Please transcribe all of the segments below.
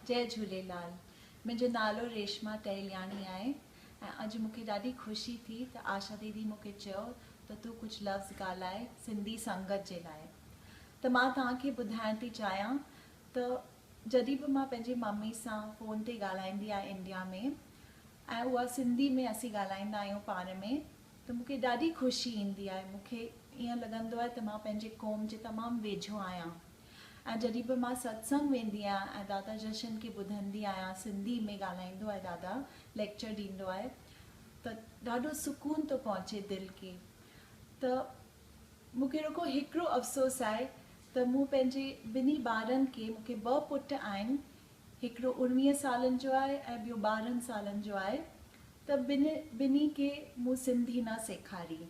جئي جهوليلال منهنجو نالو ريشما ٽهلياڻي آهي ۽ اڄ مونکي ڏاڍي خوشي ٿي ته آشا ديدي مونکي چيو ته تون ڪجهه لفظ ڳالهاء سنڌي سنگت جي لاء ته مان توهان کي ٻڌائڻ ٿي چاهيان ته جڏهن به مان پنهنجي ممي سان فون تي ڳالهائيندي آهيان انڊيا ۾ ۽ اها سنڌي ۾ اسين ڳالهائيندا آهيون پاڻ ۾ ته مونکي ڏاڍي خوشي ايندي آهي مونکي ايئن لڳندو آهي ته مان پنهنجي قوم جي تمام ويجهو آهيان ۽ جڏهن به مان ستسنگ ويندي آهيان ۽ دادا جشن کي ٻڌندي آهيان سنڌي ۾ ڳالهائيندو آهي دادا ليڪچر ڏيندو آهي ته ڏاڍو سڪون ٿو پهچي دل کي ته مون کي رڳو هڪڙو افسوس آهي ته مون پنهنجي ٻنهي ٻارن کي مون کي ٻه پٽ آهن هڪڙو اوڻويهن سالن جو آهي ۽ ٻيو ٻارهن سالن جو آهي ته ٻنهي کي مون سنڌي نه سيکاري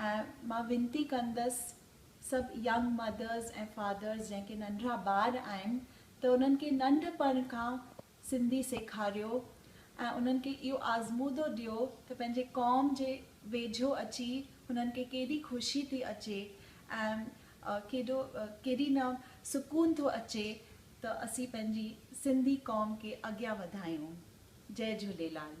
۽ مان وينتي ڪندس سڀ ينگ مدرز ۽ فادرز جنهن کي ننڍڙا ٻار آهن ته انهن کي ننڍپڻ کان سنڌي سيکاريو ۽ انهن کي اهو آزمودو ڏيو ته پنهنجي قوم جي ويجهو اچي هنن کي ڪيڏي خوشي ٿي اچي ۽ ڪيڏو ڪيڏي نه سڪون ٿو اچي ته اسين پنهنجي سنڌي قوم کي اڳيان وڌايون جئي جهوليلال.